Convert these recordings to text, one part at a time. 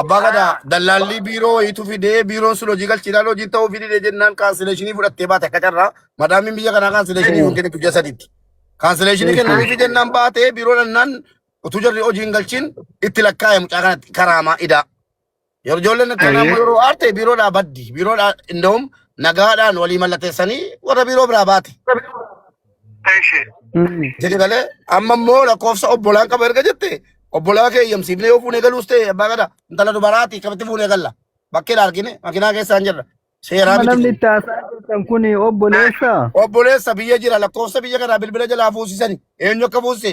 Abbaa gadaa dallaallii biiroo wayiitu fidee biiroon sun hojii galchiidhaan hojii ta'uu fidee jennaan kaansileeshinii fudhattee baate akka carraa madaamiin biyya kanaa kaansileeshinii hin kennitu ji'a sadiitti. Kaansileeshinii kennaniifi jennaan baatee biiroo dhannaan utuu jarri hojii hin galchiin itti lakkaa'e mucaa kanatti karaamaa idaa. Yeroo ijoolleen itti aanaa immoo yeroo aarte biiroodhaa baddi. Biiroodhaa inda'um nagaadhaan walii mallateessanii warra biiroo biraa baate. Eshi. Mm. jedhe galee amma immoo lakkoofsa obbolaan qaba erga jette obbolaa kee eeyyamsiifnee yoo fuunee galuus ta'e abbaa gadaa intala dubaraati akkamitti fuunee galla bakkee argine makinaa keessaan jirra seeraa Amma miti namni kun itti haasaa jirtan kun Eshi. obboleessa? obboleessa biyya jira lakkoofsa biyya kanaa bilbila jalaa fuusisani eenyu akka fuusise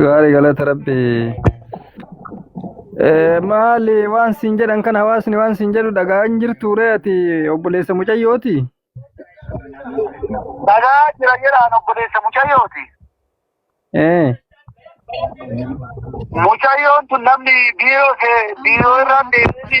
Gaarii galata rabbi. Eh, Maali waan siin jedhan kan hawaasni waan siin jedhu dhagaa hin jirtu ree ati obboleessa mucayyooti. Dhagaa jira jedhaan obboleessa mucayyooti. Eh, Mucayyoon tun namni biiroo biiroo irraan deemti.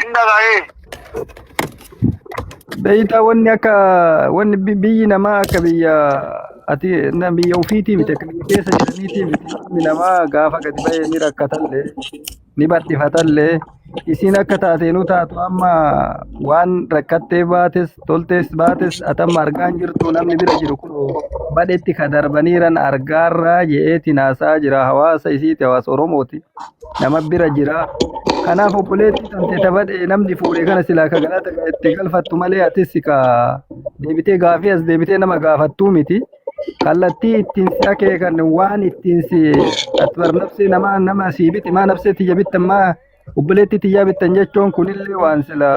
Hin dhaga'ee. Beeyta wanni akka wanni bi- biyyi namaa akka biyya ati na biyya ofiitii miti akka biyya keessa jiraniitii miti ilmi namaa gaafa gadi ba'ee ni rakkatallee ni bal'ifatallee isiin akka taateenuu taatu amma waan rakkattee baates toltes baates atamma argaan jirtu namni bira jiru kun badhetti ka darbaniiran argaarraa je'eeti naasaa jira hawaasa isiiti hawaasa oromooti nama bira jira kanaaf obboleetti tante tabadhe namni fuudhe kana silaa ka galata itti galfattu malee atis ka deebitee gaafii as deebitee nama gaafattuu miti kallattii ittiin si akeekan waan ittiin si atbar nafsee namaa nama siibiti maa nafsee tiyya bittammaa Obboleettii tiyyaa bittan jechuun kunillee waan sila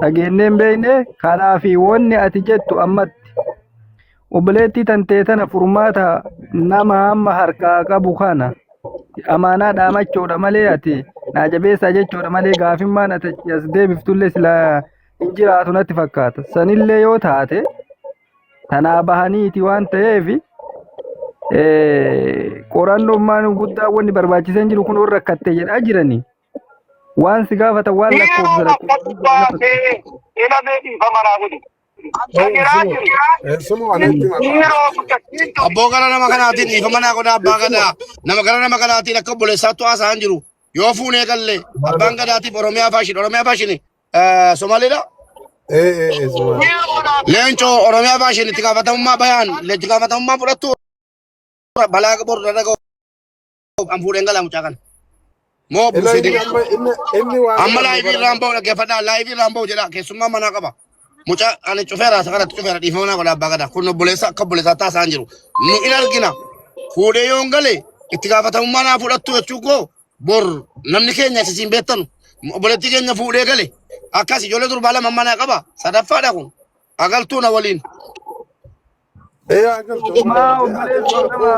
dhageennee hin beekne kanaafi wanni ati jettu ammatti obboleettii tantee tana furmaata nama hamma harkaa qabu kana amaanaa dhaamachuudha malee ati naa jabeessaa jechuudha malee gaafimmaan ati as deebiftullee sila hin jiraatu natti fakkaata sanillee yoo taate tanaa bahaniiti waan ta'eef qorannummaan guddaa wanni barbaachisan jiru kun warra rakkatte jedhaa jiranii waan si gaafatan waan lakkoofsa lakkoofsa. Ilamee dhiifama naa godhi. Kan jiraa jiru. Sumu anatti ma. Dhiiroo guddatti. Abboo gara nama kanaatiin dhiifama naa godha abbaa gadaa. Nama gara nama kanaatiin akka obboleessaattu haasa'an jiru. Yoo fuunee galle abbaan gadaatiif Oromiyaa faashin Oromiyaa faashini eh, Somaaliidha. Ee ee ee Somaali. Leencoo Oromiyaa baashin itti gaafatamummaa bayaan itti gaafatamummaa fudhattu balaa qabu irra dhaga'u an fuudheen galaa mucaa kana. Moo Ila buusii inni deemu. amma inni inni waan Amma kana laayivii irraan bahu dhaggeeffadhaa laayivii irraan bahu jedha keessummaa manaa qaba. Mucaa ani cufeera isa kanatti cufeera dhiifama naa godha abbaa gadaa kun obboleessa akka obboleessaa taasaan jiru. Nu in argina fuudhee yoon gale itti gaafatamummaa naa fudhattu jechuu koo Bor namni keenya isa siin beektanu obboleettii keenya fuudhee gale akkas ijoollee durbaa lama manaa qaba sadaffaadha kun agaltuu na waliin. Ee agaltu Maa obboleessi nama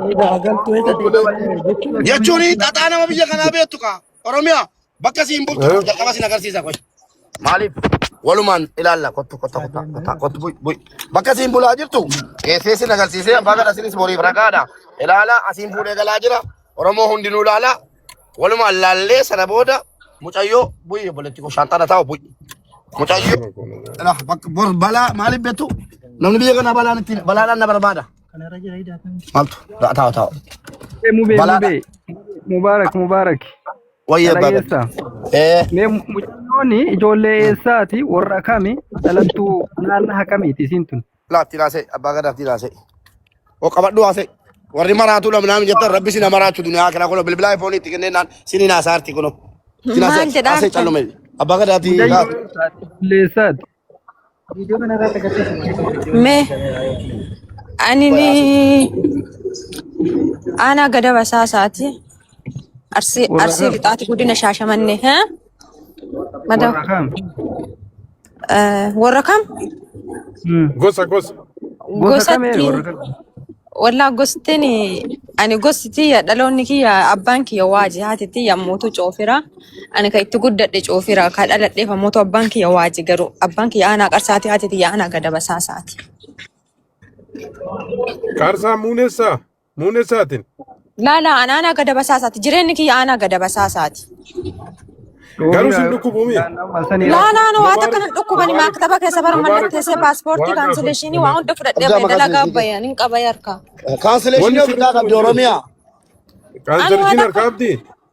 Eeda agaltuu eessa deemtee jechuun eessa Jechuun deemtee xaxaa nama biyya kanaa beektu kaa Oromiyaa bakka siin bultu Eh, jalqaba siin agarsiisa qoy. Maaliif walumaan ilaalla kottu kotta kotta kotta kottu buy buy bakka siin bulaa jirtu geessee siin agarsiisee abbaa kana isinis boriif ragaadha ilaala asiin fuudhee galaa jira Oromoo hundinuu laala. Walumaan laallee sana booda mucayyoo bu'ii obboleetti koo shaanxaa na taa'u bu'ii. Mucayyoo. Nama kun nama. Lah, bak- bor balaa maaliif beektu? Namni biyya kana balaan ittiin balaadhaan na barbaada. Maaltu? Ta'a ta'a ta'a. Mubee, mubee, Balaadha. mubee. Mubaarak, mubaarak. Wayyee Dhala baga. eessaa? Ee. Mee mu- mucayyooni ijoollee eessaati? Warra kami? Dhalattuu naannaa kamiiti isiin tun? Laatti laasee abbaa gadaatti laasee. O qabadhu haasee. Warri maraatuu dha minaamin jettan rabbi sina maraachu duniyaa akira kuno bilbilaa ifoonii itti kennee naan sini naasaa arti kuno. Sina Maal haasee jedha haasee harkan? callume. Abbaa gadaatti Mudayyoo laatti. isaati. Bulleessaati. Viidiyoo kana irratti agarsiisa malee kan viidiyoo Mee ani ni aanaa gada basaa isaati. Arsii Warra arsii kam? lixaati guddina shaashamannee. Haa? Madaw. Warra kam? Eh, Warra kam Hmm. Gosa gosa. Gosa kam ee gosatti warra kam? wallaa gostiin ani gosti tiyya dhaloonni kiyya abbaan kiyya waaji haati tiyya mootu coofira ani kan itti guddadhe coofira kan dhaladheef mootu abbaan kiyya waaji garuu abbaan kiyya aanaa qarsaati haati tiyya aanaa gadabasaasaati. Qaarsaa muunessaa. Muunessaatiin. Laala an aanaa gada basaasaati. Jireenyi kiyya aanaa gada basaasaati. Garuu sin dhukkubu mii? Laalaan waa Bobaa takka nan dhukkubani bobaa maaktaba keessa bara bobaa mallatteessee paaspoortii bobaa gaafachuu kaansileeshinii waan hunda fudhadhee Abjaa bahe maqaa dalagaa keessanii bahe ani hin qaba yarka. Wanni kaansileeshinii sin ofirraa dhukkubu qabdi hin jiru. Oromiyaa. Ani waan Kaansarshiin akka harkaa abdii?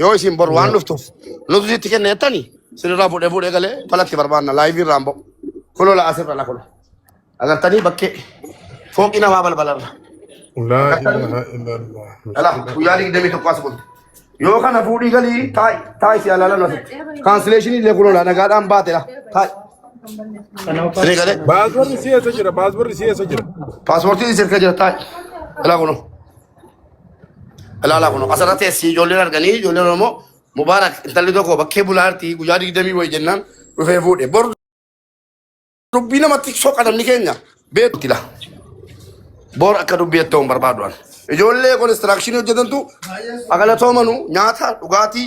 Yoo isin bor waan dhuftuuf nutu sitti kenna jettani sinirraa fuudhee fuudhee galee falatti barbaanna laayivii irraan ba'u. Kunoo la asirra la kunoo. Agartanii bakkee fooqii namaa balbalarra. Laa Agartanii ilaaha illallah. dhala guyyaa digdamii tokko as bulte. Yoo kana fuudhii galii taa'i taa'i si alaalan asitti. Kaansileeshinii illee kunoo la nagaadhaan baate la taa'i. Siree galee Baasbarri si eessa jira? Baasbarri si eessa jira? paaspoortiin sirka jira taa'i. Dhala kunoo. Ilaalaa kun asirratti essii ijoolleen arganii ijoolleen Oromoo Mubaarak intalli tokko bakkee bulaartii guyyaa digdamii wayi jennaan dhufee fuudhe. Bor dubbii namatti soqa namni keenya beekti laa. Bor akka dubbii ettoo hin barbaadu an. Ijoollee konistiraakshini hojjetantu agalatoomanu nyaata dhugaatii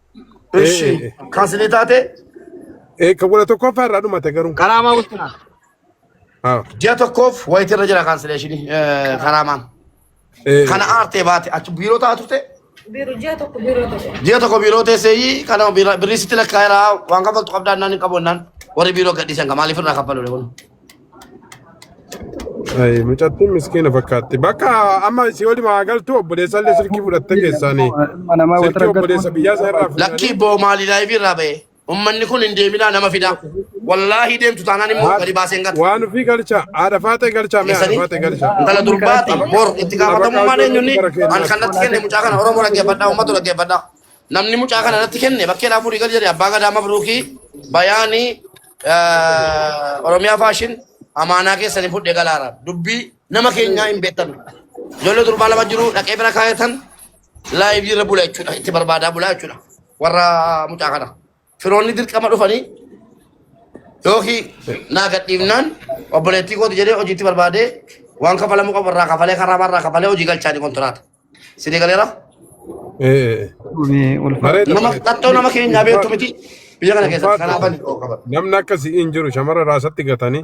Ee, Ishi ee, ee. kan isinii taate Ee, kan wala tokkoffaa irraa dhumate garuu. karaamaa wittina. Haa. Ji'a tokkoof wayita irra jira kaansileeshinii eh, karaamaan. Ee, Kana aartee baate achi biiroo ta'a turte Biiroo ji'a tokko biiroo tokko. ji'a tokko biiroo teesseeyyii kana birrii sitti lakkaa'eera waan kaffaltu qabdaa naan hin qabu naan warri biiroo gadhiisan kan maaliif irraa kaffalu kun. Ay, mucattiin miskiina fakkaatti. Bakka amma si waliin haa galtu obboleessa illee silkii fudhattee keessaanii. Ilma namaa wata Silkii obboleessa rakkattu. biyyaa isaa irraa Lakkii fuudhanii. boo maali laayivii irraa ba'e. Ummanni kun hin deeminaa nama fidaa. Wallaahi deemtu taanaan immoo gadi baaseen gata. Waan ofii galcha. Haadha faatee galcha. Mee haadha Keessanii faatee galcha. intala durbaati bor itti gaafatamummaan eenyunni an kan natti kenne mucaa kana Oromoo dhaggeeffadhaa uummatu dhaggeeffadhaa. Namni mucaa kana irratti kenne bakkee naa fuudhii gal jedhe abbaa gadaa mabruukii bayaanii eh, oromiyaa faashin amaanaa keessanii fudhee galaara dubbii nama keenyaa hin beektan ijoollee durbaa lama jiru dhaqee bira kaayatan laayivii irra bula jechuudha itti barbaadaa bulaa jechuudha warra mucaa kana. firoonni dirqama dhufanii yookiin naa gadhiifnaan obboleettii kooti jedhee hojiitti barbaadee waan kafalamuu qabu irraa kafalee karaa irraa kafalee hojii galchaanii kontiraata. Sinii galeera? Nama qaxxoo nama keenyaa beektu miti biyya kana keessatti kanaafan qaban. Namni akkasii hin jiru shamara raasatti gatanii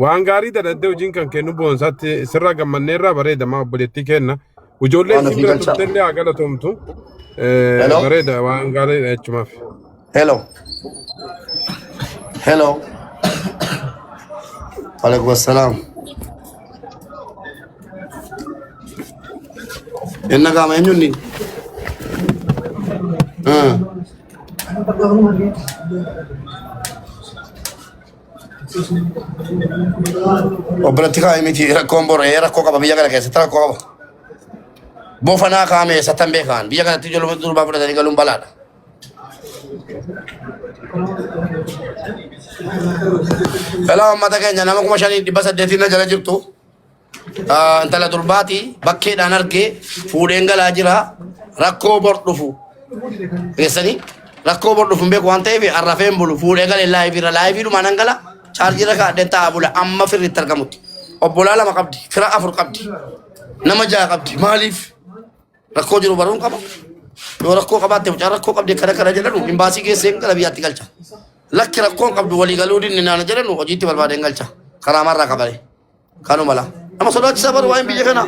waan gaarii dadhabdee hojiin kan kennu boonsaatti sirraa gammanneerraa bareeda maa obboleettii kenna. Ijoollee Waan isin ofii bira galchaa. turte illee haa galatoomtu. Eh, Hello? Bareeda waan gaariidha jechumaaf. Hello. Hello. Alaikum assalam. Inna kama enyu ni. Ah. Obbolatti kaa'e miti rakkoon bor ee rakkoo qaba biyya kana keessatti rakkoo qaba. Bofanaa kaa'ame eessattan beekaan biyya kanatti ijoollee durbaa fudhatanii galuun balaadha. Hello, ummata keenya nama kuma shanii dhibba saddeetiin na jala jirtu. Ah, intala durbaati bakkeedhaan argee fuudheen galaa jira rakkoo bor dhufu keessanii rakkoo bor dhufu hin beeku waan ta'eef arrafeen bulu fuudhee galee laayiviirra laayiviidhumaan nan gala chaarjiirra kaadheen taa'aa bula amma firri itti argamutti obbolaa lama qabdi fira afur qabdi nama ja'a qabdi maaliif Rakkoo jiru baruun qaba. Yoo rakkoo qabaatte mucaan rakkoo qabde kana kana jedhanu imbaasii geessee gara biyyaatti galcha. Lakki rakkoon qabdu walii galuu dinni naana jedhanu hojiitti barbaadee hin galcha. Karaa marraa qabale. Kanuma laa. Nama sodaachisa baru waa'een biyya kanaa.